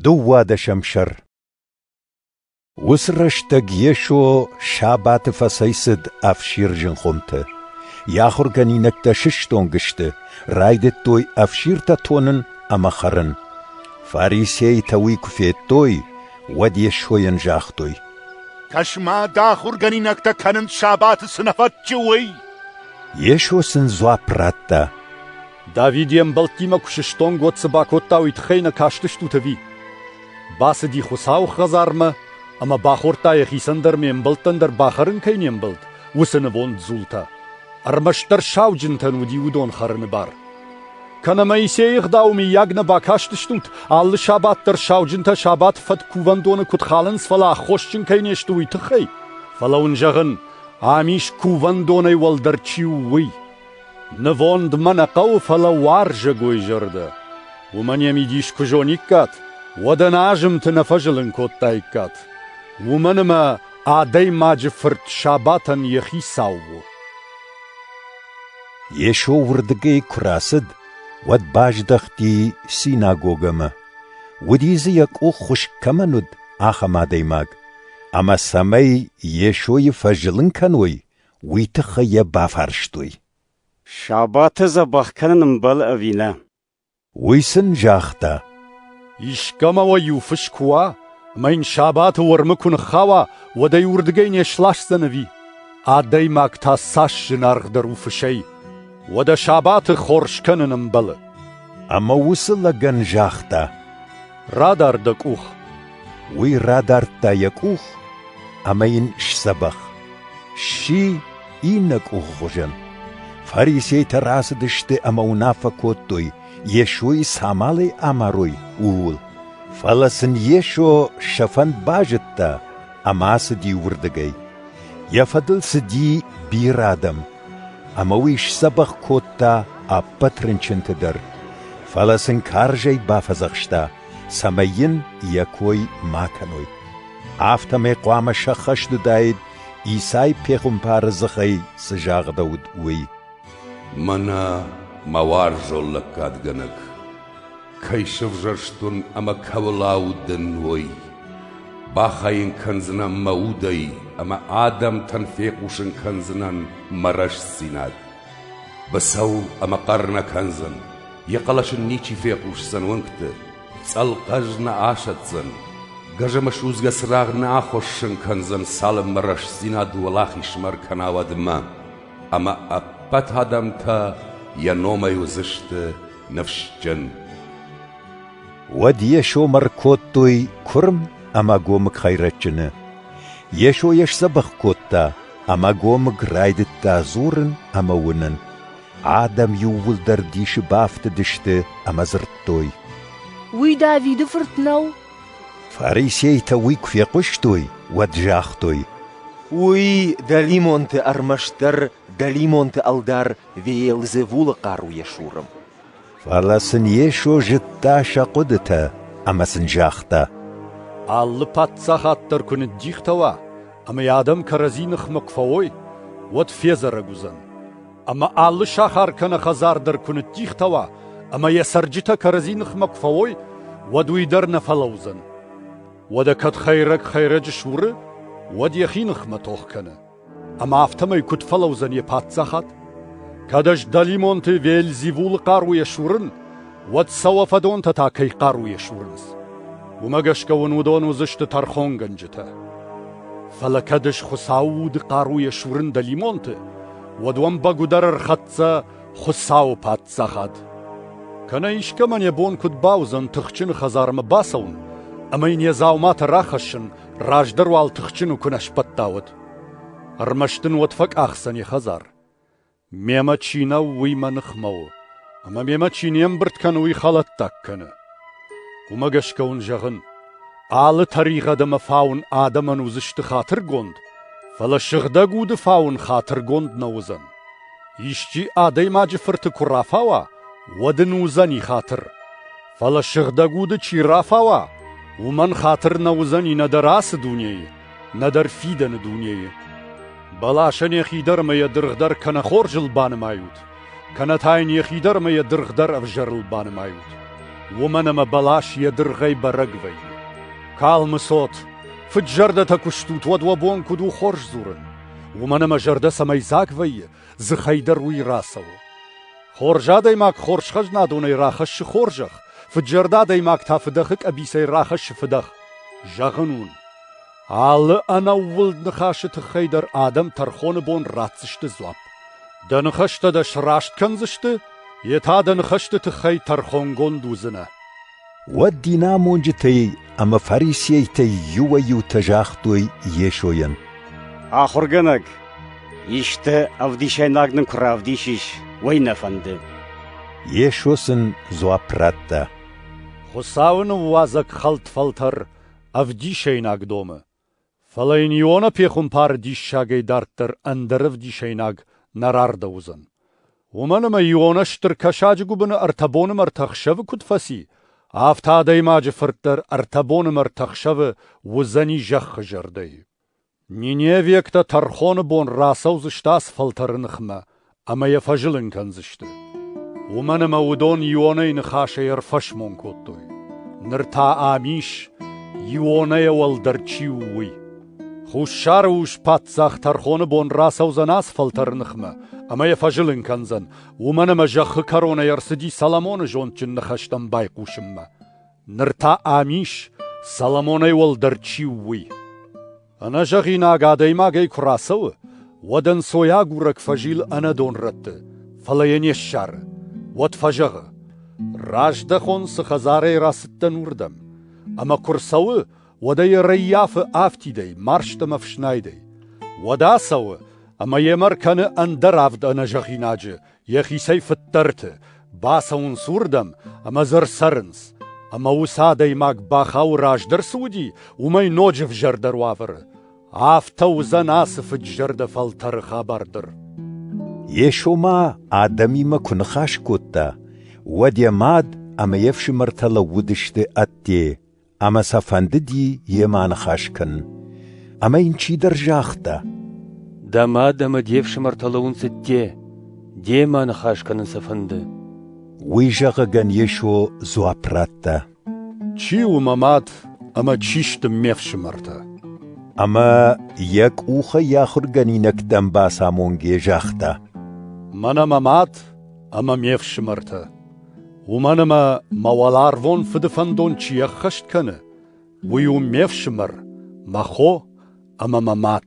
Дыууадӕсӕм сӕр Уыцы рӕстӕг Йесо сабаты фӕцӕйцыд ӕфсир зынхъуымты. Йӕ ахуыргӕнинӕгтӕ сыстонг сты, райдыдтой ӕфсиртӕ тонын ӕмӕ хӕрын. Фарисейтӕ уый куы федтой, уӕд Йесойӕн загътой: «Кӕс-ма, дӕ ахуыргӕнинӕгтӕ кӕнынц сабаты цы нӕ фӕтчы, уый!» Йесо сын дзуапп радта: Давид йе мбӕлттимӕ куы сыстонг, уӕд цы бакодта, уый тыххӕй нӕ кастыстут ӕви? Бацыди Хуыцауы хӕдзармӕ ӕмӕ бахордта, йӕхицӕн дӕр ме мбӕлттӕн дӕр бахӕрын кӕй не мбӕлд, уыцы нывонд дзултӕ. Ӕрмӕстдӕр сауджынтӕн уыди уыдон хӕрыны бар. Кӕнӕ Моисейы ӕгъдауы миййаг нӕ бакастыстут, алы сабат дӕр сауджынтӕ сабат фӕд кувӕндоны куыд халынц, фӕлӕ аххосджын кӕй не сты, уый тыххӕй? Фӕлӕ уын зӕгъын, ам ис кувӕндонӕй уӕлдӕр чи у, уый. Нывонд мӕ нӕ хъӕуы, фӕлӕ уарзӕгой зӕрдӕ. Уымӕн йӕ мидис куы зониккат, уӕд ӕнӕ азымты нӕ фӕзылын кодтаиккат. Уымӕн ӕмӕ адӕймаджы фырт сабатӕн йӕхи сау у. Йесо уырдыгӕй куы рацыд, уӕд баздӕхти синагогӕмӕ. Уыди дзы, йӕ къух хуыскъ кӕмӕн уыд, ахӕм адӕймаг. Ӕмӕ цӕмӕй Йесойы фӕзылын кӕной, уый тыххӕй йӕ бафарстой. Сабаты дзӕбӕх кӕнын ӕмбӕлы ӕви нӕ? Уый сын загъта. Искӕмӕ уӕ иу фыс куы уа, ӕмӕ йын сабаты уӕрмы куы ныххауа, уӕд ӕй уырдыгӕй не сласдзӕн ӕви? Адӕймаг та цас зынаргъдӕр у фысӕй, уӕдӕ сабаты хорз кӕнын ӕмбӕлы. Ӕмӕ уыцы лӕгӕн загъта. Радар дӕ къух. Уый радардта йӕ къух ӕмӕ йын сдзӕбӕх. Сси иннӕ къухы хуызӕн. Фарисейтӕ рацыдысты ӕмӕ уынаффӕ кодтой, Йесойы цамалӕй амарой, ууыл. Фӕлӕ сын Йесо сӕ фӕнд базыдта ӕмӕ ацыди уырдыгӕй. Йӕ фӕдыл цыди бирӕ адӕм. Ӕмӕ уый сдзӕбӕх кодта ӕппӕт рынчынты дӕр, фӕлӕ сын карзӕй бафӕдзӕхста, цӕмӕй йын йӕ кой ма кӕной. Афтӕмӕй хъуамӕ сӕххӕст уыдаид, Исай пехуымпары дзыхӕй цы загъдӕуыд, уый. «Мӕнӕ мӕ уарзон лӕггадгӕнӕг, Кӕй сӕвзӕрстон ӕмӕ кӕуыл аудын, уый. Бахайын кӕндзынӕн мӕ удӕй ӕмӕ адӕмтӕн фехъусын кӕндзынӕн мӕ рӕстдзинад. Бацӕуыл ӕмӕ хъӕр нӕ кӕндзӕн, йӕ хъӕлӕсын ничи фехъусдзӕн уынгты, цӕлхъӕз нӕ асӕтдзӕн, гӕзӕмӕ судзгӕ цырагъ нӕ ахуыссын кӕндзӕн, цалынмӕ рӕстдзинад уӕлахизмар кӕна уӕдмӕ, ӕмӕ ӕппӕт адӕмтӕ йӕ номӕй уыдзысты ныфсджын. Уӕд Йесо мӕ ркодтой куырм ӕмӕ гомыг хӕйрӕджыны. Йесо йӕ сдзӕбӕх кодта, ӕмӕ гомыг райдыдта дзурын ӕмӕ уынын. Адӕм иууылдӕр дисы бафтыдысты ӕмӕ дзырдтой. Уый Давиды фырт нӕу? Фарисейтӕ уый куы фехъуыстой, уӕд загътой. Уый дӕлимонты ӕрмӕстдӕр дӕлимонты ӕлдар Веелзевулы хъаруйӕ суры. Фӕлӕ сын Йесо зыдта сӕ хъуыдытӕ ӕмӕ сын загъта: Алы паддзахад дӕр куы ныддихтӕ уа ӕмӕ йӕ адӕм кӕрӕдзи ныхмӕ куы фӕуой, уӕд федзӕрӕг уыдзӕн. Ӕмӕ алы сахар кӕнӕ хӕдзар дӕр куы ныддихтӕ уа ӕмӕ йӕ цӕрджытӕ кӕрӕдзи ныхмӕ куы фӕуой, уӕд уый дӕр нӕ фӕлӕудзӕн. Уӕдӕ кӕд хӕйрӕг хӕйрӕджы суры, уӕд йӕхи ныхмӕ тох кӕны. Ӕмӕ афтӕмӕй куыд фӕлӕудзӕн йӕ паддзахад? Кӕд ӕз дӕлимонты Вельзевулы хъаруйӕ сурын, уӕд сӕ уӕ фӕдонтӕ та кӕй хъаруйӕ сурынц? Уымӕ гӕсгӕ уын уыдон уыдзысты тӕрхонгӕнджытӕ. Фӕлӕ кӕд ӕз Хуыцауы уды хъаруйӕ сурын дӕлимонты, уӕд уӕм бӕгуыдӕр ӕрхӕццӕ Хуыцауы паддзахад. Кӕнӕ искӕмӕн йӕ бон куыд бауыдзӕн тыхджын хӕдзармӕ бацӕуын ӕмӕ йын йӕ дзауматӕ рахӕссын раздӕр уал тыхджын куы нӕ сбӕтта, уӕд. Ӕрмӕст ын уӕд фӕкъахдзӕн йӕ хӕдзар. Мемӕ чи нӕу, уый мӕ ныхмӕ у, ӕмӕ мемӕ чи не мбырд кӕны, уый хӕлӕттаг кӕны. Уымӕ гӕсгӕ уын зӕгъын, алы тӕригъӕд ӕмӕ фауын адӕмӕн уыдзысты хатыргонд, фӕлӕ сыгъдӕг уды фауын хатыргонд нӕ уыдзӕн. Исчи адӕймаджы фырты куы рафауа, уӕд ын уыдзӕни хатыр. Фӕлӕ сыгъдӕг уды чи рафауа, уымӕн хатыр нӕ уыдзӕни нӕдӕр ацы дунейы, нӕдӕр фидӕны дунейы. Бӕласӕн йӕхи дӕр ӕмӕ йӕ дыргъ дӕр кӕнӕ хорзыл банымайут, кӕнӕ та йын йӕхи дӕр ӕмӕ йӕ дыргъ дӕр ӕвзӕрыл банымайут. Уымӕн ӕмӕ бӕлас йӕ дыргъӕй бӕрӕг вӕййы. Калмы цот, фыд зӕрдӕтӕ куы стут, уӕд уӕ бон куыд у хорз дзурын? Уымӕн ӕмӕ зӕрдӕ цӕмӕй дзаг вӕййы, дзыхӕй дӕр уый рацӕуы. Хорз адӕймаг хорз хӕзнадонӕй рахӕссы хорзӕх, фыдзӕрдӕ адӕймаг та фыдӕхы къӕбицӕй рахӕссы фыдӕх. Зӕгъын уын, алы ӕнӕууылд ныхасы тыххӕй дӕр адӕм тӕрхоны бон ратдзысты дзуапп. Дӕ ныхӕстӕ дӕ сраст кӕндзысты, йе та дӕ ныхӕсты тыххӕй тӕрхонгонд уыдзынӕ. Уӕд динамонджытӕй ӕмӕ фарисейтӕй иуӕй-иутӕ загътой Йесойӕн: «Ахуыргӕнӕг, исты ӕвдисӕйнаг нын куы равдисис, уӕй нӕ фӕнды». Йесо сын дзуапп радта: «Хуыцауы ныууадзӕг хӕлд фӕлтӕр ӕвдисӕйнаг домы. Фӕлӕ йын Иона пехуымпары диссагӕй дарддӕр ӕндӕр ӕвдисӕйнаг нӕ рардӕуыдзӕн, уымӕн ӕмӕ Иона стыр кӕсаджы гуыбыны ӕртӕ боны мӕрдты ӕхсӕвы куыд фӕци, афтӕ адӕймаджы фырт дӕр ӕртӕ боны мӕрдты ӕхсӕвы уыдзӕни зӕххы зӕрдӕйы. Ниневиӕгтӕ тӕрхоны бон рацӕудзысты ацы фӕлтӕры ныхмӕ ӕмӕ йӕ фӕзылын кӕндзысты. Уымӕн ӕмӕ уыдон Ионӕй ныхасӕй ӕрфӕсмон кодтой. Ныр та ам ис, Ионӕйӕ уӕлдӕр чи у, уый. Хуссары ус паддзах тӕрхоны бон рацӕудзӕн ацы фӕлтӕры ныхмӕ ӕмӕ йӕ фӕзылын кӕндзӕн, уымӕн ӕмӕ зӕххы кӕронӕй ӕрцыди Соломоны зондджын ныхӕстӕм байхъусынмӕ. Ныр та ам ис, Соломонӕй уӕлдӕр чи у, уый. Ӕнӕзӕгъинаг адӕймагӕй куы рацӕуы, уӕд ӕнцойагурӕг фӕзилы ӕнӕ донрӕтты, фӕлӕ йӕ не ссары. Уӕд фӕзӕгъы: «Раздӕхон цы хӕдзарӕй рацыдтӕн, уырдӕм, ӕмӕ куы рцӕуы, уӕд ӕй ӕрӕййафы афтидӕй, марст ӕмӕ фснайдӕй. Уӕд ацӕуы ӕмӕ йемӕ ркӕны ӕндӕр авд ӕнӕзӕгъинаджы Йӕхицӕй фыддӕрты бацӕуынц уырдӕм ӕмӕ дзы ӕрцӕрынц, ӕмӕ уыцы адӕймаг бӕхау раздӕр цы уыди, уымӕй ноджы взӕрдӕр уавӕры. Афтӕ уыдзӕн ацы фыд-зӕрдӕ фӕлтӕры хабар дӕр. Йесо ма адӕмимӕ куы ныхас кодта, уӕд йӕ мад ӕмӕ йе фсымӕртӕ лӕууыдысты ӕдде ӕмӕ сӕ фӕндыди йемӕ аныхас кӕнын. Ӕмӕ йын чидӕр загъта: Дӕ мад ӕмӕ де фсымӕртӕ лӕууын цыдте, демӕ аныхас кӕнын сӕ фӕнды. Уый зӕгъыгӕн Йесо дзуапп радта: Чи у мӕ мад ӕмӕ чи сты ме фсымӕртӕ? Ӕмӕ йӕ къухӕй йӕ ахуыргӕнинӕгтӕм бацамонгӕ загъта: Мӕнӕ мӕ мад ӕмӕ ме фсымӕртӕ. Уымӕн ӕмӕ мӕ уӕларвон фыды фӕндон чи ӕххӕст кӕны, уый у ме фсымӕр, мӕ хо ӕмӕ мӕ мад.